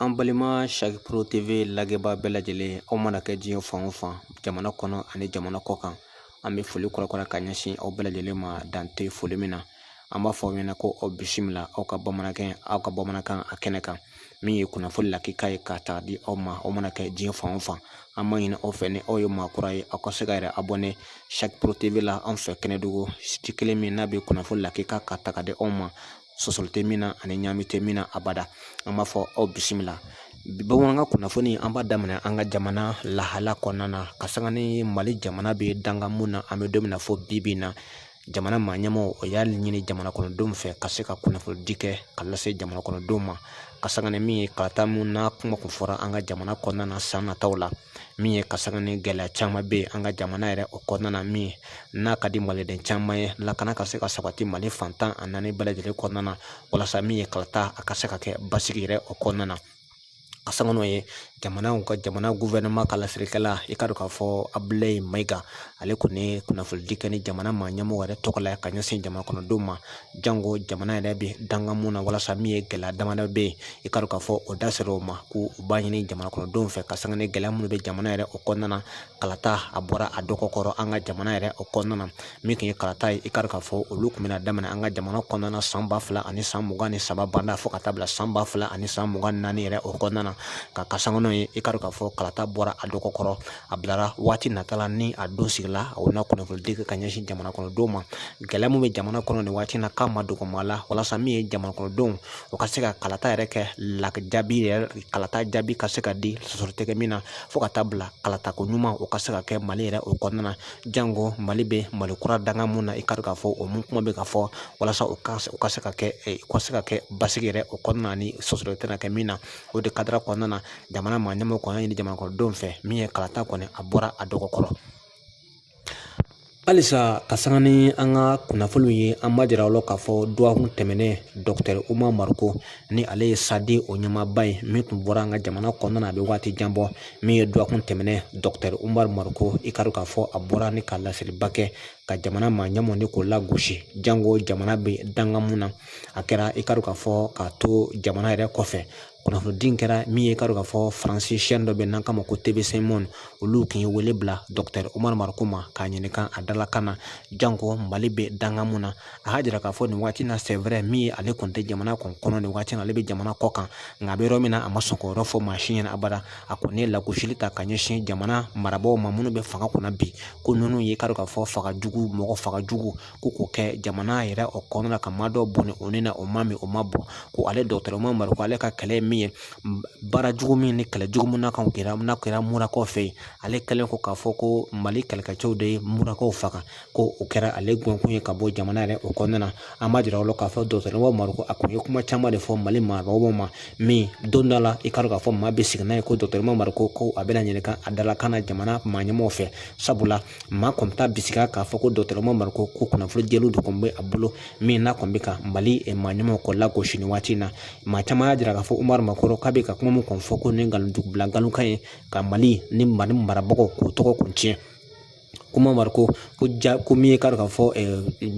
an balima saki pro tv lagɛbaa bɛɛ lajɛlen aw mana kɛ diɲɛ fan o fan jamana kɔnɔ ani jamana kɔ kan an bɛ foli kɔrɔkɔrɔ ka ɲɛsin aw bɛɛ lajɛlen ma dan tɛ foli min na an b'a fɔ aw ɲɛna ko aw bisimila aw ka bamanankan aw ka bamanankan a kɛnɛ kan min ye kunnafoni lakika ye k'a ta di aw ma aw mana kɛ diɲɛ fan o fan an b'a ɲini aw fɛ ni aw ye maakura ye aw ka se k'aw yɛrɛ abɔne saki pro tv la an fɛ kɛnɛdugu siti kelen min n'a bɛ kunnafoni lakika ka ta ka di aw ma sɔsɔli tɛ min na ani ɲaami tɛ min na abada an b'a fɔ aw bisimila bamanankan kunnafoni an b'a daminɛ an ka jamana lahala kɔnɔna na ka sanga ni mali jamana bɛ dankan mun na an bɛ don min na fɔ bi bi in na jamana maa ɲɛmaaw o y'a ɲini jamana kɔnɔdenw fɛ ka se ka kunnafonidi kɛ ka lase jamana kɔnɔdenw ma ka sanga ni min ye kalata mun n'a kuma kun fɔra an ka jamana kɔnɔna na san nataw la min ye ka sanga ni gɛlɛya caman bɛ yen an ka jamana yɛrɛ o kɔnɔna na min n'a ka di maliden caman ye lakana ka se ka sabati mali fan tan ni naani bɛɛ lajɛlen kɔnɔna na walasa min ye kalata a ka se ka kɛ basigi yɛrɛ o kɔnɔna na ka sanga n'o ye jamanaw ka jamana gufɛrɛnaman ka laselikɛla i ka dɔn k'a fɔ abulayi mayiga ale kɔni ye kunnafonidi kɛ ni jamana maa ɲɛmɔgɔ yɛrɛ tɔgɔ la ka ɲɛsin jamana kɔnɔdenw ma jango jamana yɛrɛ bɛ danga mun na walasa min ye gɛlɛya damadɔ bɛ yen i ka dɔn k'a fɔ o da sera o ma ko u b'a ɲini jamana kɔnɔdenw fɛ ka sanga ni gɛlɛya minnu bɛ jamana yɛrɛ o kɔnɔna na kalata a bɔra a dɔgɔ kɔrɔ an ka jamana yɛrɛ o kɔnɔna na min tun ye kalata ye i ka dɔn k'a fɔ olu tun bɛna daminɛ an ka jamana kɔnɔna na san ba fila ani san mugan ni saba banda fo ka taa bila san ba fila ani san mugan ni naani yɛrɛ o kɔnɔna na ka sanga n'o ye i ka dɔn k'a fɔ kalata bɔra a dɔgɔ kɔrɔ a bilara waati nata la ni a don sigila a na kunnafonidi kɛ ka ɲɛsin jamana kɔnɔdenw ma gɛlɛya min bɛ jamana kɔnɔ nin waati na k'a ma dogo maa la walasa min ye jamana kɔnɔdenw o ka se ka kalata yɛrɛ kɛ lakijaabi yɛrɛ kalata jaabi ka se ka di sɔsɔli tɛ kɛ min na fo ka taa bila kalatako ɲuman o ka se ka kɛ mali yɛrɛ o kɔnɔna na jango mali bɛ mali kura danga mun na i ka dɔn k'a fɔ o mun kuma bɛ ka fɔ walasa u ka se ka kɛ u ka se ka kɛ basigi yɛrɛ o kɔnɔna ni sɔsɔli tɛna kɛ min na o de kadara kɔnɔna na jamana maa ɲɛmɔgɔ kɔni y'a ɲini jamanakɔnɔdenw fɛ min ye kalata kɔni a bɔra a dɔgɔ kɔrɔ halisa ka sanga ni an ka kunnafoniw ye an b'a jira aw la k'a fɔ dɔgɔkun tɛmɛnen dɔkitɛri umaru mariko ni ale ye sadi o ɲɛmaaba ye min tun bɔra an ka jamana kɔnɔna na a bɛ waati jan bɔ min ye dɔgɔkun tɛmɛnen dɔkitɛri umaru mariko i ka dɔn k'a fɔ a bɔra ni ka laseliba kɛ ka jamana maa ɲɛmɔgɔ ni k'o lagosi jango jamana bɛ danga mun na a kɛra i ka dɔn k'a fɔ k'a to jamana yɛrɛ kɔfɛ kunnafonidi in kɛra min ye i ka dɔn k'a fɔ faransi sɛni dɔ bɛ n'an k'a ma ko tv5 monde olu tun ye wele bila dɔkitɛri umaru mariko ma k'a ɲininka a dalakan na janko mali bɛ dankan mun na a y'a jira k'a fɔ nin waati na c'est vrai min ye ale kɔni tɛ jamana kɔni kɔnɔ nin waati na ale bɛ jamana kɔ kan nka a bɛ yɔrɔ min na a ma sɔn k'o yɔrɔ fɔ maa si ɲɛna abada a kɔni ye lagosili ta ka ɲɛsin jamana marabaaw ma minnu bɛ fanga kunna bi ko ninnu ye i ka dɔn k'a fɔ faga jugu mɔgɔ faga jugu ko k'o kɛ jamana yɛrɛ o kɔnɔna na ka maa dɔ bɔnɛ o ni na o ma min o ma bɔ ko ale dɔgɔtɔrɔ umaru mariko ale ka kɛlɛ ye min ye baara jugu min ni kɛlɛ jugu min na ka kɛra n'a kɛra murakaw fɛ yen ale kɛlen ko k'a fɔ ko mali kɛlɛkɛcɛw de ye murakaw faga ko o kɛra ale gɔnkun ye ka bɔ jamana yɛrɛ o kɔnɔna na an b'a jira aw la k'a fɔ dɔgɔtɔrɔ umaru mariko a kun ye kuma caman de fɔ mali marabagaw ma min don dɔ la i k'a dɔn k'a fɔ maa bɛ sigi n'a ye ko dɔgɔtɔrɔ umaru mariko ko a bɛna ɲininka a dalakan na jamana maa ɲɛmɔgɔw fɛ sabula maa kɔni t'a bisigiya k'a fɔ ko dɔgɔtɔrɔ umaru mariko ko kunnafoni jɛlenw de kɔni bɛ a bolo min n'a kɔni bɛ ka mali eh, maa ɲɛmɔgɔw kɔ lagosi nin waati in na maa caman y'a jira k'a fɔ umaru mariko k'a bɛ ka kuma min kɔni fɔ ko nin nkalon dugubila nkalonkan ye ka mali ni mali marabagaw k'u tɔgɔ kun tiɲɛ k'umaru mariko ko ja ko min ye k'a dɔn k'a fɔ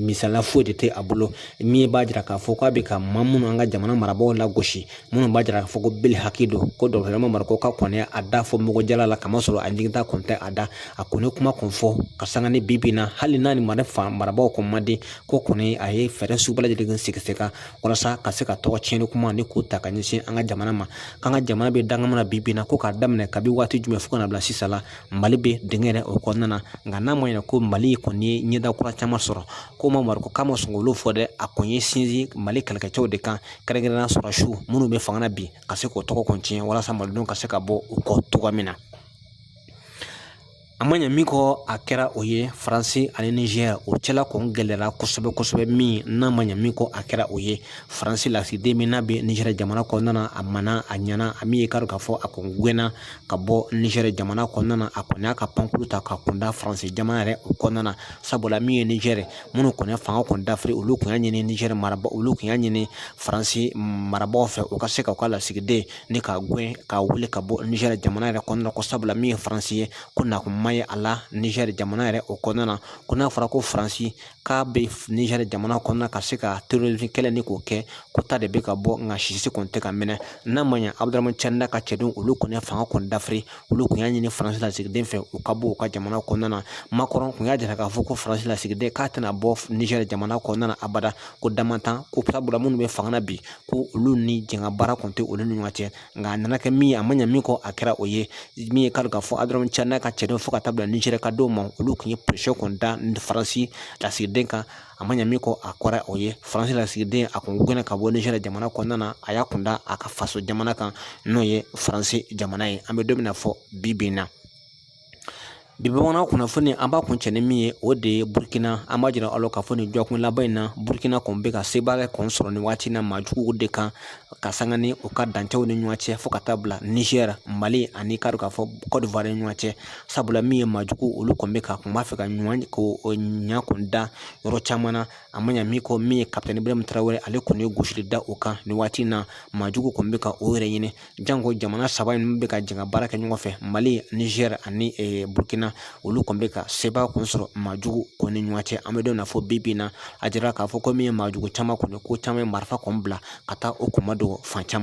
misaliya foyi de tɛ a bolo min b'a jira k'a fɔ k'a bɛ ka maa minnu an ka jamana marabaaw lagosi minnu b'a jira k'a fɔ ko bele hakili don ko dɔgɔtɔrɔ umaru mariko ka kɔni a da fɔ mɔgɔjala la kamasɔrɔ a ɲiginta kɔni tɛ a da a kɔni kuma kɔni fɔ ka sanga ni bi bi in na hali n'a ni mara fan marabaaw kɔni man di ko kɔni a ye fɛɛrɛ sugu bɛɛ lajɛlen sigi sen kan walasa ka se ka tɔgɔ tiɲɛni kuma ni k'o ta ka ɲɛsin an ka jamana ma k'an ka jamana bɛ danga min na bi bi in na ko k'a daminɛ kabi waati jumɛn fo ka na bila sisan la Mali bɛ dingɛ yɛrɛ o kɔnɔna na nka n'a ma ɲɛ ko mali kɔni ye ɲɛda kura caman sɔrɔ ko umaru mariko k'a ma sɔn k'olu fɔ dɛ a kɔni y'i sinsin mali kɛlɛkɛcɛw de kan kɛrɛnkɛrɛnnenya sɔrɔdasi minnu bɛ fanga na bi ka se k'o tɔgɔ kɔni tiɲɛ walasa malidenw ka se ka bɔ u kɔ cogoya min na a ma ɲɛ min kɔ a kɛra o ye faransi ani nizɛri o cɛla kɔni gɛlɛyara kosɛbɛ kosɛbɛ min n'a ma ɲɛ min kɔ a kɛra o ye faransi lasigiden min n'a bɛ nizɛri jamana kɔnɔna na a mana a ɲɛna a min ye k'a dɔn k'a fɔ a kun gɛnna ka bɔ nizɛri jamana kɔnɔna na a kɔni y'a ka pankuru ta ka kunda faransi jamana yɛrɛ o kɔnɔna na sabula min ye nizɛri minnu kɔni ye fanga kɔni dafiri olu tun y'a ɲini nizɛri marabaa olu tun y'a ɲini faransi marabaaw fɛ u ka se ka u ka lasigiden ni ka gɛn ka wuli ka bɔ nizɛri jamana yɛrɛ kɔnɔna na ko sabula min ye faransi ye ko nakun ma ye a la nizɛri jamana yɛrɛ o kɔnɔna na ko n'a fɔra ko faransi k'a bɛ Niger jamana kɔnɔna ka se ka terrorisme kɛlɛ ni k'o kɛ ko ta de bɛ ka bɔ nka sisi kɔni tɛ ka minɛ n'a ma ɲɛ Abudramani Tiani ka cɛdenw olu kɔni ye fanga kɔni dafiri olu tun y'a ɲini Faransi lasigiden fɛ u ka bɔ u ka jamana kɔnɔna na Macron tun y'a jira k'a fɔ ko Faransi lasigiden k'a tɛna bɔ Niger jamana kɔnɔna na abada ko damantan ko sabula minnu bɛ fanga na bi ko olu ni jɛnkabaara kɔni tɛ olu ni ɲɔgɔn cɛ nka a nana kɛ min ye a ma ɲɛ min kɔ a kɛra o ye min ye k'a dɔn k'a fɔ Abdramani Tiani ka cɛdenw fo ka taa bila Nizɛri ka denw ma olu kun ye pression kɔni da Faransi lasigiden kan a ma ɲɛ min kɔ a kɛra o ye Faransi lasigiden a kun gɛnna ka bɔ Nizɛri jamana kɔnɔna na a y'a kun da a ka faso jamana kan n'o ye Faransi jamana ye an bɛ don min na fɔ bi bi in na Bi bamanan kunnafoni an b'a kuncɛ ni min ye o de ye burukina an b'a jira aw la k'a fɔ nin dɔgɔkun laban in na burukina kɔni bɛ ka sebaaya kɔni sɔrɔ nin waati in na maa juguw de kan ka sanga ni u ka dancɛw ni ɲɔgɔn cɛ fo ka taa bila nizɛri mali ani k'a dɔn k'a fɔ kɔdiwari ni ɲɔgɔn cɛ sabula min ye maa jugu olu kɔni bɛ ka kun b'a fɛ ka ɲuman ko ɲa kun da yɔrɔ caman na a ma ɲa min kɔ min ye kapitɛni ibrahim tarawele ale kɔni ye gosili da o kan nin waati in na maa jugu kɔni bɛ ka o yɛrɛ ɲini janko jamana saba in bɛ ka jɛn ka baara kɛ ɲɔgɔn fɛ mali nizɛri ani burukina olu kɔni bɛ ka sebaaya kɔni sɔrɔ maa jugu kɔni ɲɔgɔn cɛ an bɛ don na fɔ bi bi in na a jira k'a fɔ ko min ye maa jugu caman kɔni ko caman ye marifa kɔni bila ka taa o kɔni ma dogo fan caman